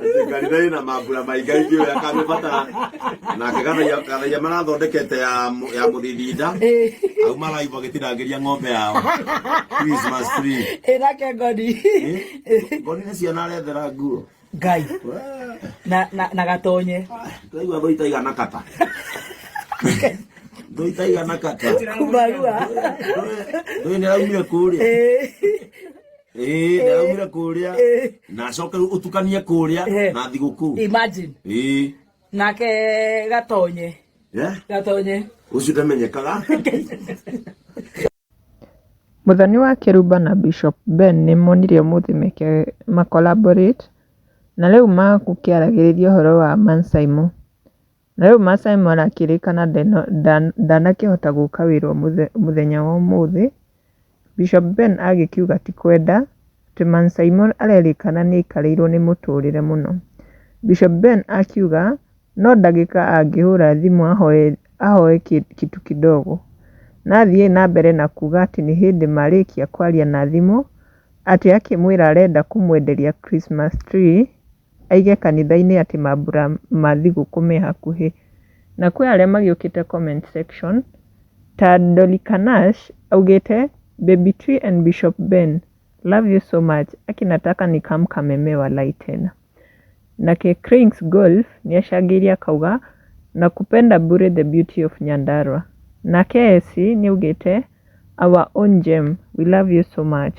Atĩ kanitha ĩna mambura maingaingĩ ũyũ akamĩbatara nake gathaia gathaia marathondekete ya mũ- ya mũthithinda au maraigua gĩtirangĩria ng'ombe yao Christmas tree ĩrake ngoni ngoni nĩ ciana arethera nguo ngai Wee, na na na gatonye tũraigua thũ itaigana kata thũ itaigana kata kumarua ndũĩ nĩraumire kũrĩa Ĩĩ. Eh, na umire kuria Eh. na coke utukanie kuria Eh. na thiguku imagine eh nake gatonye yeah gatonye ucio ndamenyekaga Mũthoni wa Kĩrumba na Bishop Ben nĩ monire ũmũthĩ meke ma collaborate na rĩu magũkĩaragĩrĩria ũhoro wa Mansaimo. Na rĩu Maasai Mara akĩrĩkana ndanakĩhota gũka wĩra mũthenya wa ũmũthĩ, Bishop Ben agĩkiuga ti kwenda, atĩ Maasai Mara arerĩkana nĩ aikarĩirwo nĩ mũtũrĩre mũno. Bishop Ben akiuga no ndagĩka angĩhũra thimũ ahoe ahoe kitu kidogo. Na athiĩ na mbere na kuuga atĩ nĩ hĩndĩ marĩkia kwaria na thimũ, atĩ akĩmwĩra arenda kũmwenderia Christmas tree. Aige kanithainĩ atĩ mambura ma thigũkũ me hakuhĩ. Na kwĩ arĩa magĩũkĩte comment section ta Dolly Kanash augĩte Baby Tree and Bishop Ben love you so much aki nataka ni come Kameme walai tena. Nake Cranes Golf nĩacangĩire akauga Nakupenda bure the beauty of Nyandarua. Nake Essie nĩaugĩte Our own Jem we love you so much.